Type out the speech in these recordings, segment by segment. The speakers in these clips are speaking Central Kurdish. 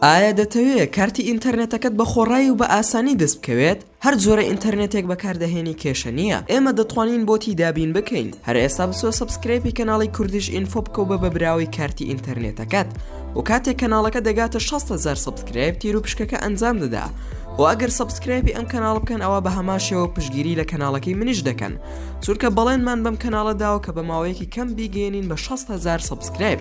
ئایا دەتەوێت کارتی ئینتەرنێتەکەت بە خۆڕایی و بە ئاسانی دەست بکەوێت؟ هەر جۆرە ئینتەرنێتێک بەکاردەهێنی کێشە نییە ئێمە دەتوانین بۆتی دابین بکەین هەر ئێستا بچۆ سەبسکرەیپی کەناڵی کوردیش ئینفۆ بکەو بە بە براوەی کارتی ئینتەرنێتەکەت و کاتێک کەناڵەکە دەگاتە 600هزار سەبسکرایب تیر و پشکەکە ئەنجام دەدا و ئەگەر سەبسکرایپی ئەم کەناڵ بکەن ئەوە بە هەماشەوە پشگیری لە کەناڵەکەی منیش دەکەن چونکە بەڵێنمان بەم کەناڵە داوە کە بە ماوەیەکی کەم بیگەێنین بە 600هزار سەبسکرایب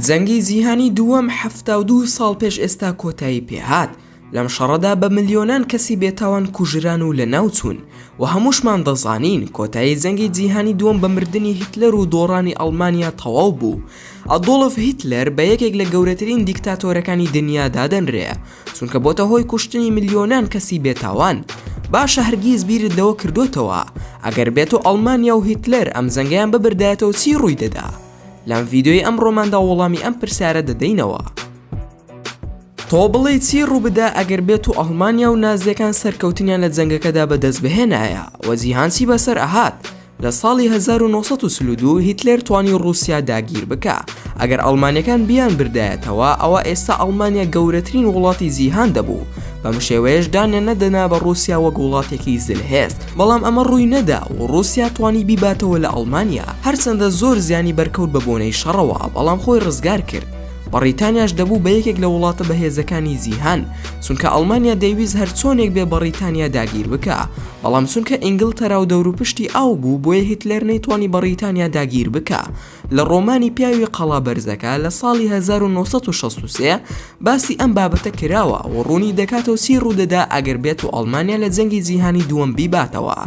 جەنگی جیهانی دووەم حەفتا و دوو ساڵ پێش ئێستا کۆتایی پێ هات لەم شەڕەدا بە ملیۆنان کەسی بێتاوان کوژران و لە ناو چوون و هەمووشمان دەزانین کۆتایی جەنگی جیهانی دووەم بە مردنی هیتلەر و دۆڕانی ئەڵمانیا تەواو بوو ئەدۆڵف هیتلەر بە یەکێک لە گەورەترین دیکتاتۆرەکانی دنیا دادەنرێ چونکە بۆتە هۆی کوشتنی ملیۆنان کەسی بێتاوان باشە هەرگیز بیرت لەوە کردوتەوە ئەگەر بێت و ئەڵمانیا و هیتلەر ئەم جەنگیان ببردایەتەوە چی ڕووی دەدا؟ لەم ڤیدیۆی ئەمڕۆماندا وەڵامی ئەم پرسیارە دەدەینەوە تۆ بڵێ چی ڕووبدا ئەگەر بێت و ئەڵمانیا و نازیەکان سەرکەوتنیان لە جەنگەکەدا بەدەست بهێنایە وە جیهانچی بەسەر ئەهات لە ساڵی 1922 هیتلەر توانی ڕوسیا داگیر بکە ئەگەر ئەڵمانەکان بیان بردایەتەوە ئەوە ئێستا ئەڵمانیا گەورەترین وڵاتی جیهان دەبوو بەم شێوەیەش دانیان نەدەنا بە ڕوسیا وەک وڵاتێکی زلهێست بەڵام ئەمە ڕووی نەدا و ڕووسیا توانی بیباتەوە لە ئەڵمانیا هەرچەندە زۆر زیانی بەرکەوت بە بۆنەی شەڕەوە بەڵام خۆی ڕزگار کرد بەڕیتانیاش دەبوو بە یەکێک لە وڵاتە بەهێزەکانی جیهان چونکە ئەڵمانیا دەیویست هەرچۆنێک بێ بەڕیتانیا داگیر بکا بەڵام چونکە ئینگلتەرا و دەوروپشتی ئاو بوو بۆیە هیتلەر نەیتوانی بەڕیتانیا داگیر بکا لە ڕۆمانی پیاوی قەڵا بەرزەکە لە ساڵی 1963 باسی ئەم بابەتە کراوە و ڕوونی دەکاتەوە چی ڕوودەدا ئەگەر بێت و ئەڵمانیا لە جەنگی جیهانی دووەم بیباتەوە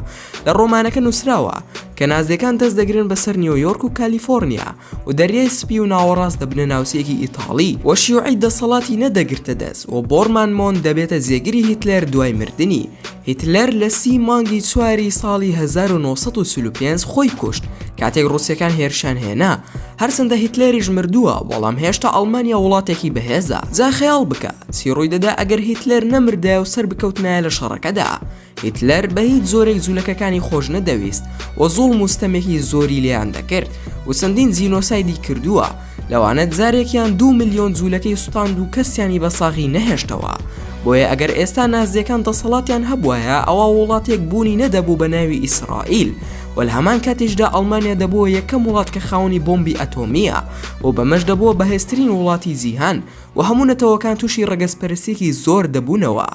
لە ڕۆمانەکە نووسراوە کە نازیەکان دەست دەگرن بەسەر نیۆیۆرک و کالیفۆرنیا و دەریای سپی و ناوەڕاست دەبنە ناوچەیەکی ئیتاڵی و شیوعی دەسەڵاتی نەدەگرتە دەست و بۆرمان مۆن دەبێتە جێگری هیتلەر دوای مردنی هیتلەر لە سی مانگی چواری ساڵی 1945 خۆی کوشت کاتێک ڕوسەکان هێرشان هێنا هەرچەندە هیتلەریش مردووە بەڵام هێشتا ئەڵمانیا وڵاتێکی بەهێزە جا خەیاڵ بکە چی ڕووی دەدا ئەگەر هیتلەر نەمردایە و سەر بکەوتنایە لە شەڕەکەدا هیتلەر بە هیچ زۆرێک جوولەکەکانی خۆش نەدەویست و زوڵ مستەمێکی زۆری لێیان دەکرد و چەندین جینۆسایدی کردووە لەوانە جارێک یان دوو ملیۆن جوولەکەی سوتاند و کەسیانی بە ساغی نەهێشتەوە بۆیە ئەگەر ئێستا نازیەکان دەسەڵاتیان هەبواە ئەوا وڵاتێک بوونی نەدەبوو بە ناوی ئیسرائیل و لە هەمان کاتیشدا ئەڵمانیا دەبووە یەکەم وڵات کە خاونی بۆمبی ئەتۆمیە و بەمەش دەبووە بەهێزترین وڵاتی جیهان و هەموو نەتەوەکان تووشی ڕەگەزپەرسێکی زۆر دەبوونەوە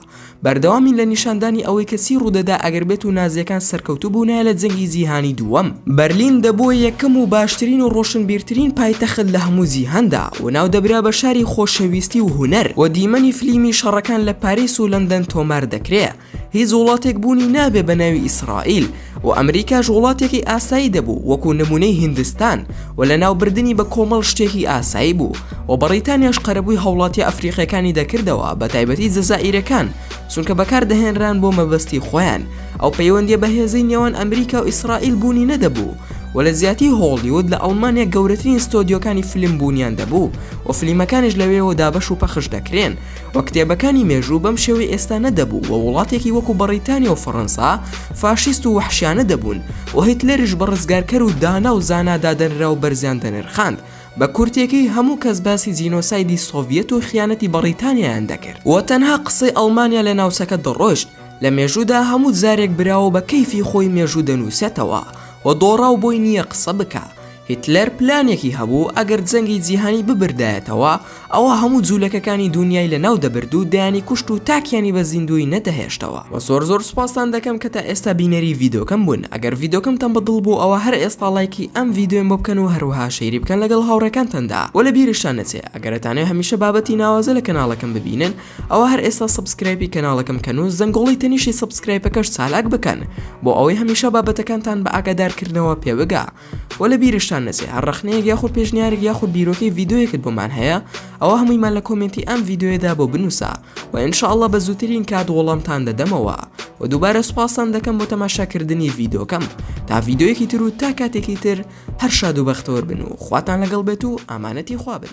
بەردەوامین لە نیشاندانی ئەوەی کە چی ڕوودەدا ئەگەر بێت و نازییەکان سەرکەوتوو بوونایە لە جەنگی جیهانی دووەم، بەرلین دەبووە یەکەم و باشترین و ڕۆشنبیرترین پایتەخت لە هەموو جیهاندا و ناودەبرا بە شاری خۆشەویستی و هونەر و دیمەنی فلیمی شەڕەکان لە پاریس و لەندەن تۆمار دەکرێ هیچ وڵاتێک بوونی نابێ بە ناوی ئیسرائیل و ئەمریکاش وڵاتێکی ئاسایی دەبوو وەکو نمونەی هیندستان و لەناوبردنی بە کۆمەڵ شتێکی ئاسایی بوو و بەڕیتانیاش قەرەبووی هاوڵاتیە ئەفریقیەکانی دەکردەوە بەتایبەتی جەزائیرەکان چونکە بەکاردەهێنران بۆ مەبەستی خۆیان ئەو پەیوەندیە بەهێزەی نێوان ئەمریکا و ئیسرائیل بوونی نەدەبوو و لە جیاتی هۆڵیود لە ئەڵمانیا گەورەترین ستۆدیۆکانی فلیم بوونیان دەبوو و فلیمەکانیش لەوێوە دابەش و پەخش دەکرێن و کتێبەکانی مێژوو بەم شێوەی ئێستا نەدەبوو و وڵاتێکی وەکو بەڕیتانیا و فەڕەنسا فاشیست و وەحشیانە دەبوون و هیتلەریش بە ڕزگارکەر و دانا و زانا دادەنرا و بەرزیان دەنرخاند بە کورتێکەی هەموو کەس باسی جینۆسایدی سۆڤیەت و خیانەتی بەڕیتانیایان دەکرد و تەنها قسەی ئەڵمانیا لە ناوچەکە دەڕۆشت لە مێژوودا هەموو جارێک براوە بە کەیفی خۆی مێژوو دەنووسێتەوە و دۆڕاو بۆی نییە قسە بکا هیتلەر پلانێکی هەبوو ئەگەر جەنگی جیهانی ببردایەتەوە ئەوا هەموو جولەکەکانی دونیای لەناو دەبرد و دەیانی کوشت و تاکیانی بە زیندووی نەدەهێشتەوە. وە زۆر زۆر سوپاستان دەکەم کە تا ئێستا بینەری ڤیدۆکەم بوون ئەگەر ڤیدۆکەمتان بە دڵ بوو ئەوا هەر ئێستا ڵایکی ئەم ڤیدۆیەم بۆ بکەن و هەروەها شەیری بکەن لەگەڵ هاوڕێکانتاندا وە لە بیرشتان نەچێ ئەگەر ئەتانەوێ هەمیشە بابەتی ناوازە لە کەناڵەکەم ببینن ئەوا هەر ئێستا سەبسکرایپی کەناڵەکەم کەن و زەنگۆڵەی تەنیشی سەبسکرایپەکەش چالاک بکەن بۆ ئەوەی هەمیشە بابەتەکانتان بە ئاگادار کردنەوە پێ بگا وە لە بیرشتان نەچێ هەر ڕەخنەیەک یاخود پێشنیارێک یاخود بیرۆکەی ڤیدۆیەکت بۆمان هەیە ئەوە هەموویمان لە کۆمێنتی ئەم ڤیدۆیەدا بۆ بنووسە و ان شاء اللە بە زووترین کات وەڵامتان دەدەمەوە و دووبارە سوپاستان دەکەم بۆ تەماشاکردنی ڤیدۆکەم تا ڤیدۆیەکی تر و تا کاتێکی تر هەر شاد و بەختەوەر بن و خواتان لەگەڵ بێت و ئامانەتی خوا بن